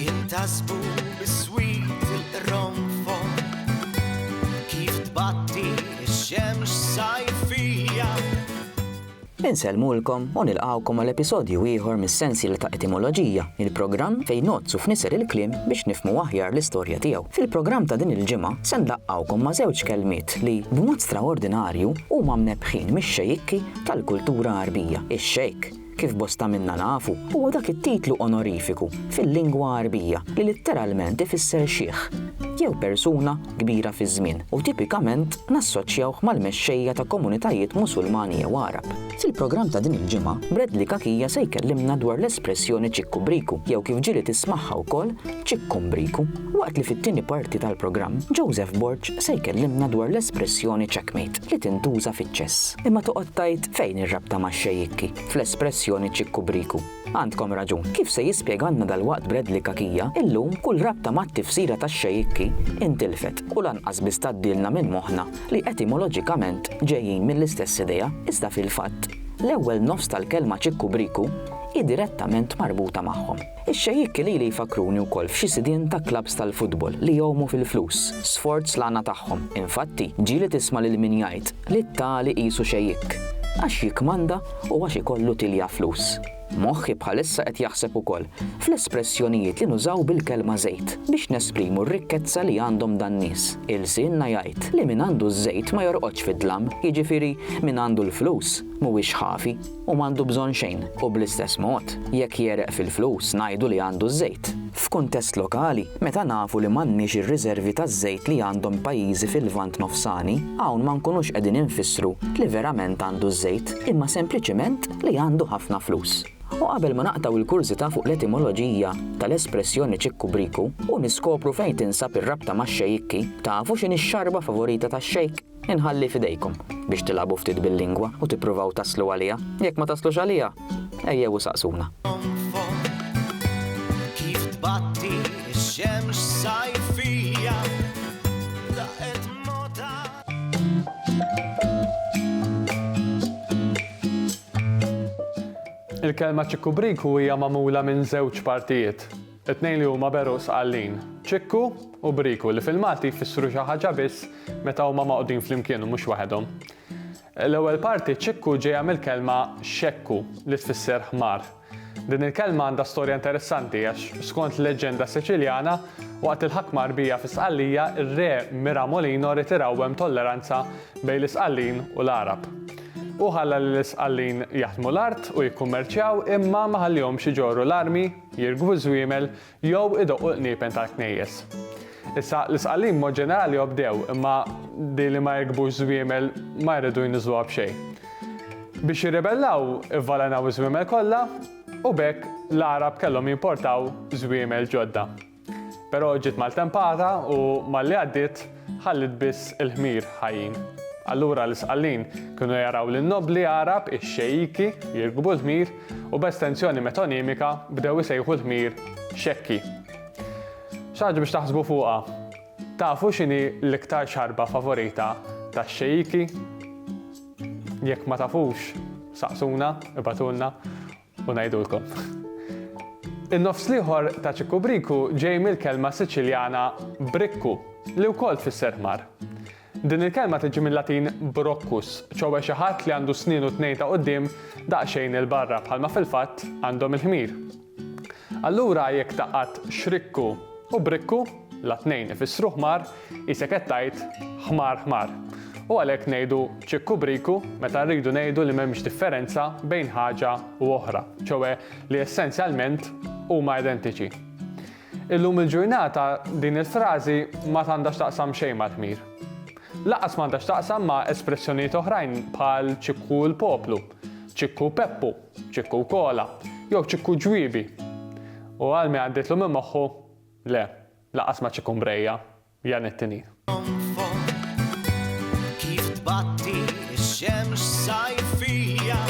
Jintasbu biswit il-qronfon kif tbatti x-xemx sajfija. Insellmulkom u nilqgħukom għal episodju ieħor mis-sensiela ta' Etimoloġija, il-programm fejn ngħoddsu f'niser il-kliem biex nifhmu aħjar l-istorja tiegħu. Fil-programm ta' din il-ġimgħa se nlaqqgħukom ma' żewġ kelmiet li, b'mod straordinarju, huma mnebbħin mix-xejikki tal-kultura Għarbija. Ix-Xejk, kif bosta minna nafu, huwa dak it-titlu onorifiku fil-lingwa Għarbija li litteralment ifisser xiħ, jew persuna kbira fiż-żmien, u tipikament nassoċjawh mal-mexxejja ta' komunitajiet Musulmani jew Għarab. Fil-programm ta' din il-ġimgħa, Bradley Cachia se jkellimna dwar l-espressjoni ċikkubriku, jew kif ġieli tismagħha wkoll ċikkumbriku, waqt li fit-tieni parti tal-programm, Joseph Borg se jkellimna dwar l-espressjoni checkmate. li tintuża fiċ-ċess. Imma toqgħod tgħid fejn ir-rabta max-xejikki fl-espressjoni ċikkubriku? Għandkom raġun. Kif se jispjegalna dalwaqt Bradley Cachia, illum kull rabta mat-tifsira tax-xejikki intilfet u lanqas biss tgħaddilna minn moħħna li etimoloġikament ġejjin mill-istess idea, iżda fil-fatt l-ewwel nofs tal-kelma ċikkubriku hi direttament marbuta magħhom. Ix-xejikk lili jfakkruni wkoll f'xi sidien ta' klabbs tal-futbol li jgħumu fil-flus, sforz l-għana tagħhom. Infatti, ġieli tisma' lil min jgħid li t-tali qisu xejikk, għax jikkmanda u għax ikollu tilja flus. Moħħi bħalissa qed jaħseb ukoll fl-espressjonijiet li nużaw bil-kelma żejt biex nesprimu r-rikkezza li għandhom dan-nies. Ilsienna jgħid li min għandu ż-żejt ma jorqodx fid-dlam, jiġifieri min għandu l-flus mhuwiex ħafi. u m'għandu bżonn xejn, u bl-istess mod, jekk jegħreq fil-flus ngħidu li għandu ż-żejt. F'kuntest lokali, meta nafu li m'għandniex ir-riżervi taż-żejt li għandhom pajjiżi fil-Lvant Nofsani, hawn ma nkunux qegħdin infissru li verament għandu ż-żejt, imma sempliċiment li għandu ħafna flus. U qabel ma naqtgħu il-kurżità fuq l-etimoloġija tal-espressjoni ċikku briku u niskopru fejn tinsab ir-rabta max-xejikki, tafu x'inhi x-xarba favorita tax-xejk? Inħalli f'idejkom biex tilagħbu ftit bil-lingwa u tippruvaw taslu għaliha. Jekk ma taslux għaliha, ejjew u saqsuna. Kif tbatti x-xemx sajfija laqgħet mota. Il-kelma ċikkubriku hija magħmula minn żewġ partijiet. It-tnejn li huma beru sqallin, ċikku u briku, li fil-Malti jfissru xi ħaġa biss meta huma magħqudin flimkien u mhux waħedhom. L-ewwel parti, ċikku, ġejja mill-kelma xekku, li tfisser ħmar. Din il-kelma għandha storja interessanti għax, skont leġġenda Siċiljana, waqt il-ħakma Arbija fi Sqallija, ir-Re Miramolino ried irawwem tolleranza bejn l-Isqallin u l-Għarab. Hu ħalla lill-Isqallin jaħdmu l-art u jikkummerċjaw imma ma ħallihomx iġorru l-armi jirkbu ż-żwiemel jew idoqqu l-qniepen tal-knejjes. Issa, l-isqallin b'mod ġenerali obdew, imma din li ma jirkbux żwiemel ma jridu jniżżluha b'xejn. Biex jirribellaw, ivvalenaw iż-żwiemel kollha u b'hekk l-Għarab kellhom jimportaw żwiemel ġodda. Però ġiet maltempata u malli għaddiet ħalliet biss il-ħmir ħajjin. Allura l-isqallin kienu jaraw lin-nobbli Għarab ix-xejiki jirkbu l-ħmir u b'estenzjoni metonimika bdew isejħu l-ħmir xekki. Xi ħaġa biex taħsbu fuqha. Tafu x'inhi l-iktar xarba favorita tax-xejiki? Jekk ma tafux, saqsuna, ibatulna. u ngħidulkom. In-nofs l-ieħor ta' Ċikku Briku ġej mill-kelma Siċiljana brikku, li wkoll tfisser ħmar. Din il-kelma tiġi mill-Latin broccus, ċowe xi ħadd li għandu snienu tnejn ta' quddiem daqsxejn il-barra bħalma fil-fatt għandhom il-ħmir. Allura jekk tgħaqqad xrikku u brikku, la tnejn ifissru ħmar, qisek qed tgħid ħmar ħmar. U għalhekk ngħidu ċikku briku meta rridu ngħidu li m'hemmx differenza bejn ħaġa u oħra, ċoe li essenzjalment huma identiċi. Illum il-ġurnata din il-frażi ma tgħandha x'taqsam xejn mal-ħmir. Lanqas m'għandha x'taqsam ma' espressjonijiet oħrajn bħal ċikku l-poplu, ċikku Peppu, Ċikku u Kola, jew Ċikku u Ġwiebi. U Almi għaddietlu minn moħħu, Le, lanqas ma' Ċikku Mbrejja, Jan it-Tinin. Kif tbatti x-xemx sajfija,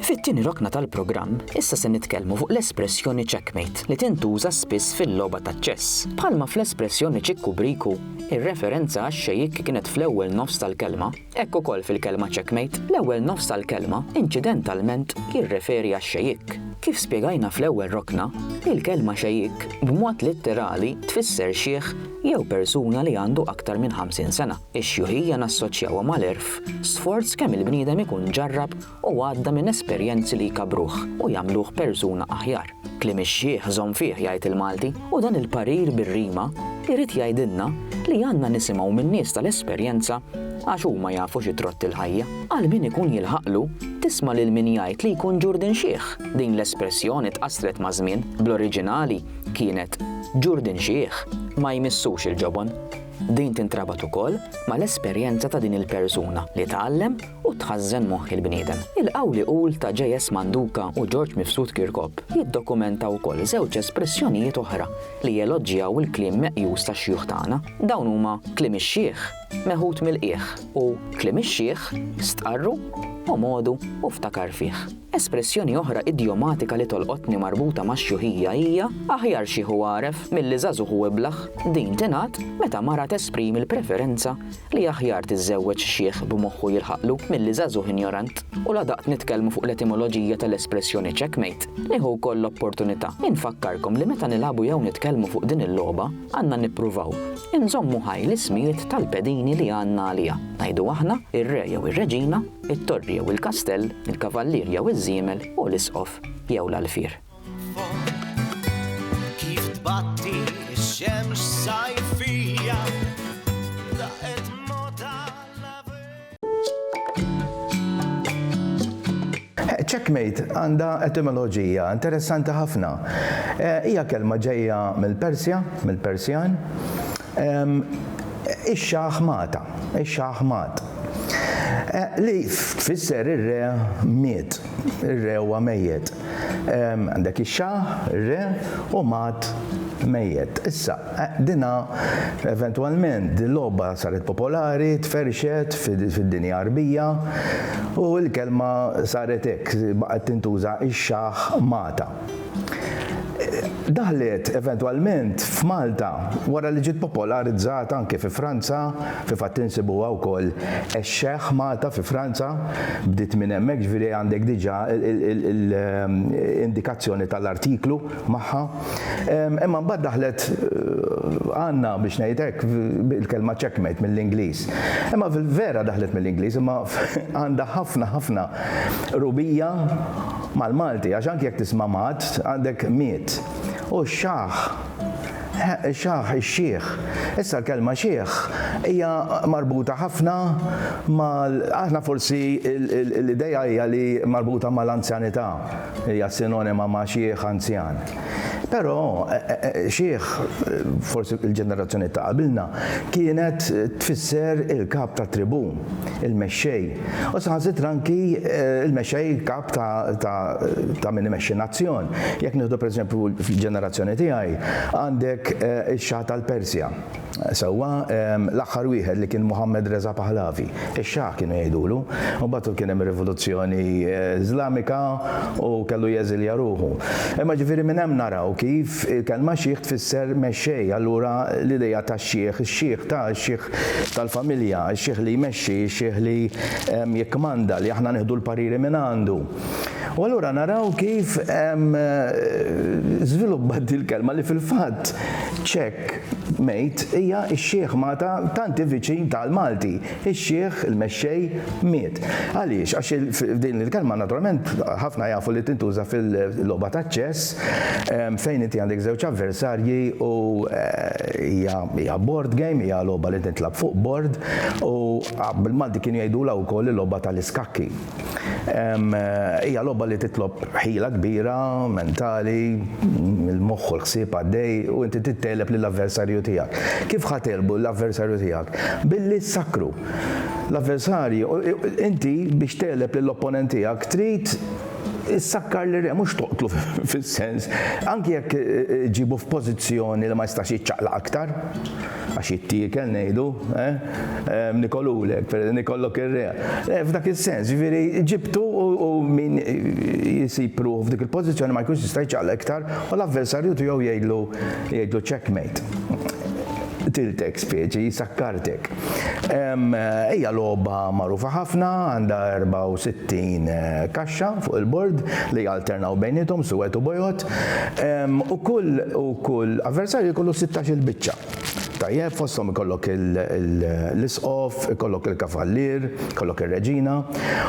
Fit-tieni rokna tal-programm, issa se nitkellmu fuq l-espressjoni checkmate li tintuża spiss fil-logħba ta' ċess. Bħalma fl-espressjoni ċikku briku, ir-referenza għax-xejikk kienet fl-ewwel nofs tal-kelma, hekk ukoll fil-kelma checkmate, l-ewwel nofs tal-kelma inċidentalment jirreferi għax-xejikk. Kif spjegajna fl-ewwel rokna, il-kelma xejikk b'mod litterali tfisser xiħ jew persuna li għandu aktar minn 50 sena. Ix-xjuħija nassoċjawha mal-għerf, sforz kemm il-bniedem ikun ġarrab u għadda minn esperjenzi li jkabbruh u jagħmluh persuna aħjar. Kliem ix-xiħ żomm fih jgħid il-Malti u dan il-parir bir-rima jrid jgħidilna li għandna nisimgħu min-nies tal-esperjenza għax huma jafu xi trott il-ħajja. Għal min ikun jilħaqlu, tisma' lil min jgħid li jkun ġurdin xiħ, din l-espressjoni tqassret maż-żmien, bl-oriġinali kienet ġurdin xiħ ma jmissux il-ġobon. Din tintrabat ukoll mal-esperjenza ta' din il-persuna li tgħallem u tħażżen moħħ il-bniedem. Il-qawli qul ta' JS. Manduca u George Mifsud Kirkop jiddokumenta wkoll żewġ espressjonijiet oħra li jeloġġjaw il-kliem meqjus tax-xjuħ tagħna. Dawn huma kliem ix-xiħ meħud mill-qiegħ u kliem ix-xiħ stqarru, omgħodu u ftakar fih. Espressjoni oħra idjomatika li tolqotni marbuta max-xjuħija hija, Aħjar xiħ u għaref milli żagħżugħ u iblah. Din tingħad meta mara tesprimi l-preferenza li aħjar tiżżewweġ xiħ b'moħħu jilħaqlu milli żagħżugħ injorant. U la daqt nitkellmu fuq l-etimoloġija tal-espressjoni checkmate, nieħu wkoll l-opportunità infakkarkom li meta nilagħbu jew nitkellmu fuq din il-logħba, għandna nippruvaw inżommu ħaj l-ismijiet tal-pedini li għandna għaliha. Ngħidu aħna, ir-re jew ir-reġina, it-torri jew il-kastell, il-kavallier jew iż-żiemel u l-isqof jew l-għalfier. Kif tbatti x-xemx sajfija laqgħet mota Checkmate għandha etimoloġija interessanti ħafna. Eh, hija kelma ġejja mill-Persja, mill-Persjan, Ix-xaħmata, ix-xaħmat, li tfisser ir-re miet, ir-re huwa mejjet. Għandek ix-xaħ, ir-re, u mat, mejjet. Issa, dinha eventwalment din logħba saret popolari, tferrxet fid-dinja Għarbija u l-kelma saret hekk, baqgħet tintuża ix-xaħ mata. Daħlet eventwalment f'Malta wara li ġiet popolarizzata anke fi Franza, fi fatt insibuha wkoll ex-Xehh Malta fi Franza, bdiet minn hemmhekk ġifieri għandek diġà l-indikazzjoni tal-artiklu magħha. Imma mbagħad daħlet għandna biex ngħid hekk il-kelma checkmate mill-Ingliż. Imma vera daħlet mill-Ingliż imma għandha ħafna ħafna qrubija mal-Malti għax anke jekk tisma' mat għandek miet. U x-xaħ, ix-xaħ, ix-xiħ. Issa l-kelma xiħ hija marbuta ħafna mal, aħna forsi l-idea hija li marbuta mal-anzjanità, hija sinonima ma' xiħ anzjan. Però, xiħ, forsi il-ġenerazzjoni ta' qabilna, kienet tfisser il-kap tat-tribù, il-mexxej, u saħansitra anki l-mexxej kap ta' min imexxi nazzjon. Jekk nieħdu pereżempju fil-ġenerazzjoni tiegħi, għandek ix-Xa tal-Persja. Sewwa, l-aħħar wieħed li kien Mohammed Reza Pahlavi, ix-Shah kienu jgħidulu, u mbagħad kien hemm ir-rivoluzzjoni Iżlamika u kellu jeżilja ruħu. Imma ġifieri minn hemm naraw kif il-kelma sheikh tfisser mexxej, allura l-idea ta' sheikh, ix-sheikh ta', ix-sheikh tal-familja, ix-sheikh li jmexxi, ix-sheikh li jikkmanda, li aħna nieħdu l-pariri minn għandu. U allura naraw kif żviluppat din il-kelma li fil-fatt Ċekk, mejt hija x-xiħ Mata tanti viċin tal Malti. Ix-xiħ, il-mexxej, miet. Għaliex? Għax din il-kelma naturalment ħafna jafu li tintuża fil-logħba taċ-ċess fejn inti għandek żewġ avversarji u hija board game, hija logħba li tintlagħab fuq board u bil-Malti kienu jgħidulha wkoll il-logħba tal-iskakki. Hija logħba li titlob ħila kbira, mentali, il-moħħ u l-ħsieb għaddej u inti trid tegħleb lill-avversarju tiegħek. Kif ħa tegħlbu l-avversarju tiegħek? Billi ssakkru. L-avversarju, inti biex tegħleb lill-opponent tiegħek trid issakkar lir-re, mhux toqtlu fis-sens, anki jekk ġġibu f'pożizzjoni li ma jistax jiċċaqlaq aktar. Għax jittiekel ngħidu, eh? Nikolulek, nikollok ir-reja. Eh, f'dak is-sens, ġifieri ġibtu u min jisib ruħu f'dik il-pożizzjoni ma jkunx jista' jċaqla iktar u l-avversarju tiegħu jgħidlu jgħidlu checkmate tiltek speċi, sakkartek. Ejja logħba magħrufa ħafna, għandha 64 eh, kaxxa fuq il-bord li jalternaw bejnietom suwed u bojot. U kull u kull avversarju jkollu sittax-il biċċa. Tajjeb, fosthom ikollok l-isqof, ikollok il-kavallier, ikollok ir-reġina,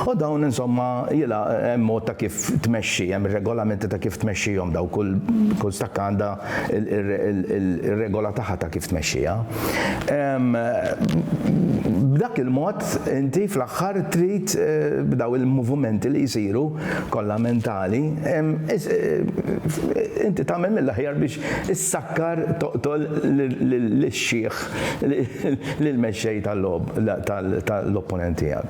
u dawn insomma jilgħa hemm mod ta' kif tmexxi, hemm ir-regolamenti ta' kif tmexxihom daw kull kull stakka għandha r-regola tagħha ta' kif tmexxiha. B'dak il-mod inti fl-aħħar trid b'daw il-movumenti li jsiru kollha mentali, inti tagħmel mill-aħjar biex issakkar toqtol lix-xiħ lill-mexxej tal-opponent tiegħek.